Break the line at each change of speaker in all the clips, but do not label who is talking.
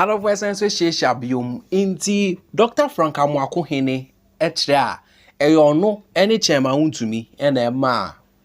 Adɔfoɔ san nso hyiahyia biom nti Dɔkta Frank Amoako Hene kyerɛ a ɛyɛ ɔno ne Chairman Awontumi na ɛma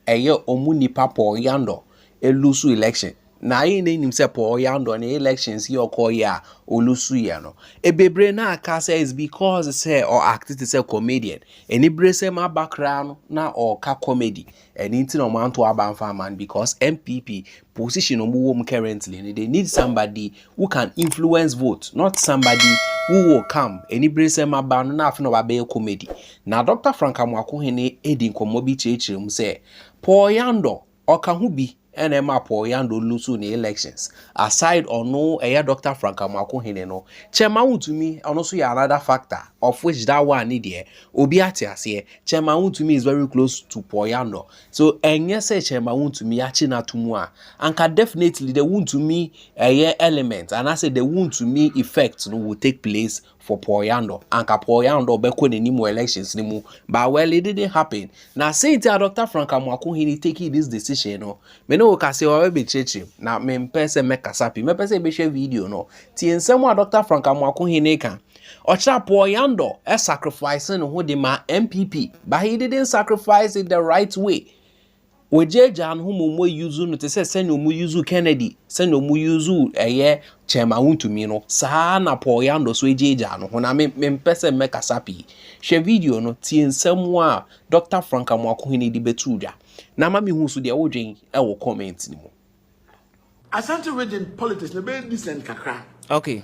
a ɛyɛ ɔmo nipa Paul Yandor ɛlusu election na yɛn nyinaa nim sɛ Paul Yandor ne elections yi ɔkɔɔ yɛ a ɔlusu yɛ no ɛbebree na aka sɛ is because sɛ ɔ act te sɛ comedian ɛniberesɛm aba koraa no na ɔɔka comedy Ɛno nti na wɔanto aba amfa amma no because NPP position a wɔwɔ mu currently no they need somebody who can influence vote not somebody who will come aniberesɛm aba no na afei na wabɛyɛ comedy. Na Doctor Frank Amoako Hene adi nkɔmmɔ bi kyerɛkyerɛ mu sɛ Paul Yandor ɔka ho bi. ɛna ɛma paul yando lusu ne elections aside ɔno ɛyɛ dr frank amako hene no kyɛma wontumi ɔno so yɛ another factor of which that one ne deɛ obi ate aseɛ kyɛma wontumi is very close to paul yando so ɛnyɛ sɛ kyɛma wontumi akyi no ato mu a anka definitely the wontumi ɛyɛ element anaasɛ the wontumi effect no will take place for Paul Yandor anka Paul Yandor bɛkɔ n'anim wɔ elections no mu but well it didn't happen na sei nti a Dr. Frank Amoako Hene taking this decision no me ne wo ka sɛ wɔbɛ bɛkyerɛkyerɛ mu na mempɛ sɛ mɛkasa pii mɛpɛ sɛ bɛhwɛ video no tie nsɛm a Dr. Frank Amoako Hene ka ɔkyerɛ Paul Yandor sacrifice ne ho de ma MPP but he didn't sacrifice it the right way Wɔagyaagyaa no ho ma wɔayuzu no te sɛ sɛnea wɔyuzuu Kennedy, sɛnea wɔyuzuu ɛyɛ Chairman Wontumi no, saa ara na Paul Yando nso agyaagyaa no ho. Na me, mempɛ sɛ mɛkasa pii. Hwɛ video no, tie nsɛm a Dɔkta Frank Amoako Hene de bɛtoo dwa, na ma mehu nso deɛ wodwen wɔ comment no mu.
Asante region politics no bɛyɛ decent kakra. Okay.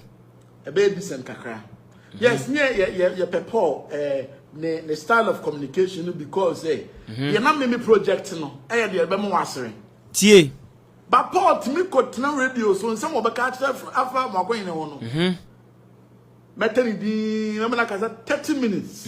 Ɛbɛyɛ
decent kakra. Mm-hmm. Yes, ne yɛ yɛ yɛ pɛ Paul ɛɛ eh, ne ne style of communication no because ɛ mm-hmm. yɛ na mimi project no ɛyɛ deɛ ɛbɛma wasere. Tie.
Ba Paul
tumi kɔ tena radio so nsɛm wɔbɛka akyerɛ afa mu akɔnyina hɔ no. Mm-hmm. Mɛtɛ ne din na mena kasa thirty minutes.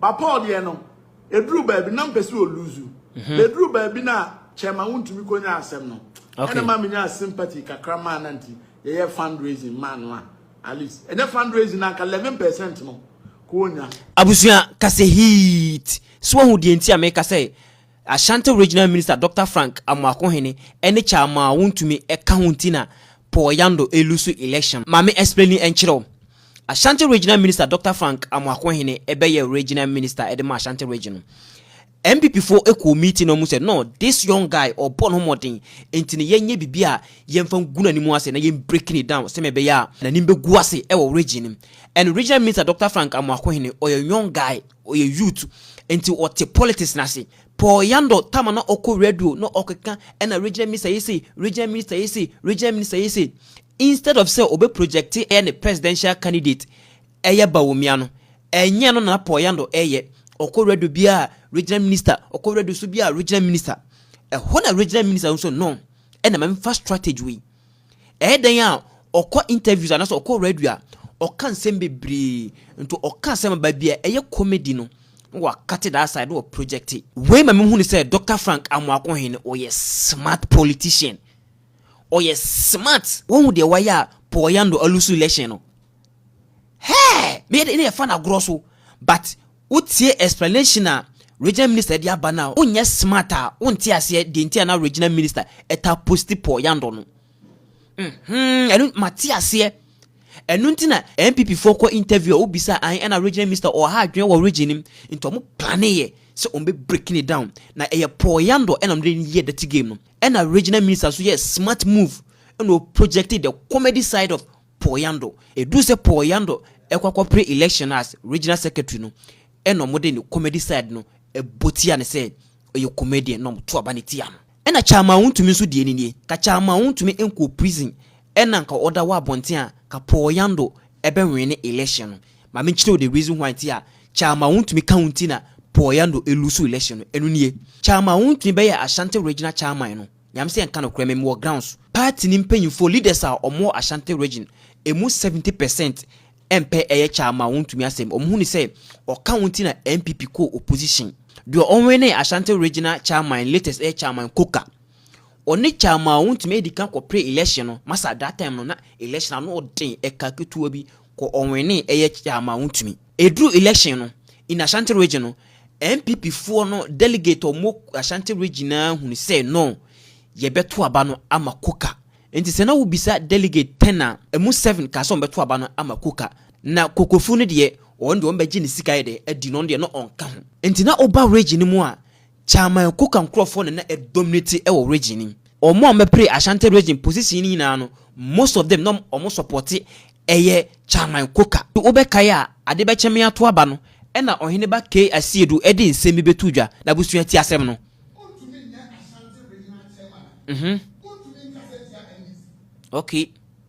But Paul
deɛ no, ɛduru baabi na mpɛ sɛ ɔluzu. Mhm. Na ɛduru baabi no a, kyɛ ma wontumi kɔnya asɛm no. Ɛna ma menyaa sympathy kakra maa no nti, yɛyɛ fundraising maa no a, at least. Ɛnyɛ fundraising no anka 11 percent no, kɔɔnya. Abusua,
kase heat. So wahu deɛ nti a meka sɛ, Ashanti Regional Minister Doctor Frank Amoakohene ne kyaa mo a wontumi ka ho nti na Paul Yando loose election. Ma me explaini nkyerɛ wo. Ashanti Regional Minister Doctor Frank Amoakohene bɛyɛɛ Regional Minister de maa Ashanti Region no. NPP foɔ kɔɔ meeting na wɔn sɛ no this young guy ɔbɔ ne ho mmɔden nti no yɛnyɛ biribi a yɛmfa ngu n'anim ase na yɛn break no down sɛmea ɛbɛyɛ a n'anim bɛgu ase wɔ region no mu. And Regional Minister Doctor Frank Amoakohene ɔyɛ young guy. Ɔyɛ youth nti ɔte politics no ase. Paul Yandor time a na ɔkɔ radio na ɔkeka ɛna regional minister yɛ sei, regional minister yɛ sei, regional minister yɛ sei. Instead of sɛ ɔbɛ project ɛyɛ ne presidential candidate ɛyɛ Bawumia no, ɛnyɛ ɛno na na Paul Yandor ɛyɛ. Ɔkɔ radio biara regional minister, ɔkɔ radio so biara regional minister. Ɛhɔ na regional minister no nso no ɛna ma memfa strategy wei. Ɛyɛ dɛn a ɔkɔ interviews anaasɛ ɔkɔ radio a, ɔka nsɛm bebree. Nti ɔka asɛm a baabi a ɛyɛ comedy no, na wakate that side, na wɔ project. Wei ma mehu no sɛ Dɔkta Frank Amoako-Hene no, ɔyɛ smart politician. Ɔyɛ smart. Woahu deɛ wayɛ a Paul Yando alusu election no? Hɛɛ! Meyɛ dɛ na yɛfa no agorɔ so, but Wo tie explanation a regional
minister de aba no a wo nyɛ smart a wo nte aseɛ deɛ nti a na regional minister ɛtaa posti Paul Yandor no hmm ɛno ma te aseɛ ɛno nti na NPP foɔ kɔ interview a wo bisa an ɛna regional minister ɔwɔ ha adwene wɔ region nim nti ɔmo plane yɛ sɛ ɔmo bɛ breaking it down na ɛyɛ Paul Yandor ɛna ɔmo de yɛ dirty game no ɛna regional minister so yɛ smart move ɛna o projected the comedy side of Paul Yando. Ɛduru sɛ Paul Yando ɛkɔ akɔpere election as Regional Secretary no ɛna ɔmo de ne comedy side no ɛbɔ tia no sɛ ɔyɛ comedian na ɔmo to aba no tia no. Ɛna Chairman Wontumi nso deɛ no nie, ka Chairman Wontumi nkɔɔ prison ɛna nka ɔda hɔ abɔnten a ka Paul Yando ɛbɛ wene election no. Ma me nkyerɛ wo the reason why nti a Chairman Wontumi ka wo nti na Paul Yando ɛluusu election no, ɛno nie, Chairman Wontumi bɛyɛɛ Ashanti Regional Chairman no, Nyame sɛ nka nokorɛ me mewɔ grounds. Party no mpanyinfoɔ, leaders a wɔn wɔ Ashanti region, ɛmu 70 percent ɛmpɛ ɛyɛ kyaa ma wɔn ntumi asɛm. Wɔn hunu sɛ ɔka wɔn nti na NPP kɔɔ opposition. Deɛ ɔwinee Ashanti regional chairman latest ɛyɛ chairman Coker. Ɔne chairman a wɔn ntumi ɛdi kan kɔ pre election no, masa that time no na election ano ɔden, ɛka ketewa bi. Kɔ ɔwenee ɛyɛ kyaama wo tumi. Ɛduru election no in Ashanti region no NPP foɔ no delegate a wɔwɔ Ashanti region naa hunu sɛ no yɛbɛto aba no ama Kuka nti sɛ na wobisa delegate ten a ɛmu seven kaa sɛ wɔn bɛto aba no ama Kuka na Kokofu no deɛ wɔn deɛ wɔn bɛgye ne sika yɛ dɛ adi na ɔno deɛ na ɔnka ho nti na woba region no mu a Chairman Coker nkorɔfoɔ na na ɛdominate wɔ region no mu. Wɔn a wɔbɛpere Ashanti region position no nyinaa no, most of them na wɔn supporte ɛyɛ Chairman Coker. Wo bɛkae a, ade bɛkye me ato aba no ɛna Ɔhene ba Kay Asiedu de nsɛm bi bɛtoo dwa, n'abusua ti asɛm no. Wontumi nyɛ Ashanti
regional chairman a, wontumi nkasa ntia NDC. Okay.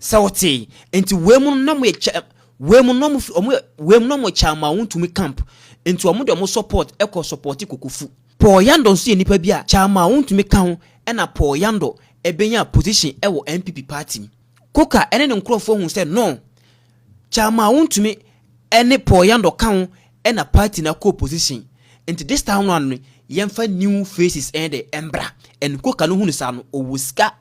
sɛ wotee nti wei mu no na mo yɛ kyɛ wei mu no mo fi ɔmo wei mu no mo kyɛ ama wɔn ntumi camp nti wɔn de wɔn support ɛkɔ support kokofu Paul Yandor nso yɛ nipa bi a kyɛ ama wɔn ntumi ka ho ɛna Paul Yandor ɛbɛnya position ɛwɔ NPP party mu. Koka ne ne nkurɔfoɔ hu sɛ no, kyɛ amaa wontumi ne Paul Yandor ka ho na party no akɔ opposition, nti this time round no yɛmfa new faces de mbra, and Koka no hu no saa no ɔwɔ sika,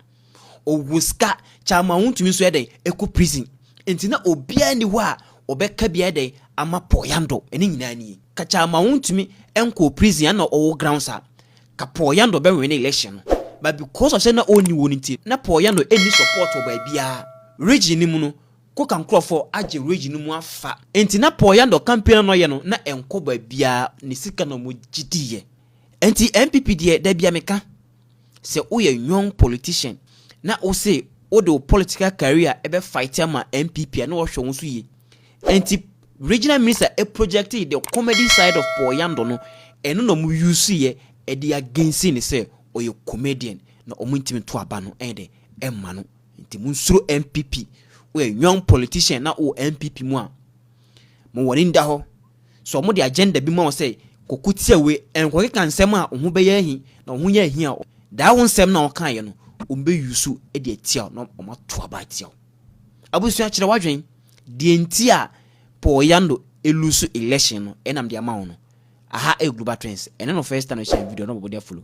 ɔwɔ sika, kyɛ amaa wontumi nso yɛdɛn ɛkɔ prison, nti na obiara nni hɔ a ɔbɛka bi ayɛdɛn ama Paul Yandor, ɛne nyinaa nie, ka kyɛ amaa wontumi nkɔɔ prison a na ɔwɔ grounds a, Ka Paul Yandor bɛ win election no but because of sɛ na ɔnni wɔn nti na Paul Yandor nni support wɔ baabiara region no mu no ko ka nkorɔfoɔ agye region no mu afa nti na Paul Yandor campaign a na ɔyɛ no na ɛnkɔ baabiara ne sika na ɔmo gye diiɛ nti NPP deɛ dabia me ka sɛ wo yɛ young politician na wo se wo de wo political career ɛbɛ fight ama NPP a na wɔhwɛ wo nso yie nti Regional minister projectee the comedy side of Paul Yandor no, ɛno na wɔn use yɛ ɛde against no sɛ ɔyɛ comedian na wɔn ntumi nto aba no ɛyɛ dɛ ɛmma no nti mo nsuro NPP woyɛ young politician na wowɔ NPP mu a mo wɔn ani da hɔ sɛ wɔn de agenda bi ma wo sɛ kɔkɔ tia wei ɛnkɔ keka nsɛm a wo ho bɛyɛ ahi na wo ho yɛ ahi a daa wo nsɛm na wo kan yɛ no wɔn bɛ use ɛde atia na wɔn ato aba atia wo abusua kyerɛ wadwen Deɛ nti a Paul Yando lose election no ɛna mede ama wo no. Aha ɛyɛ Global Trends. Ɛno no first time no hyɛ video no bɔbɔ de afolo.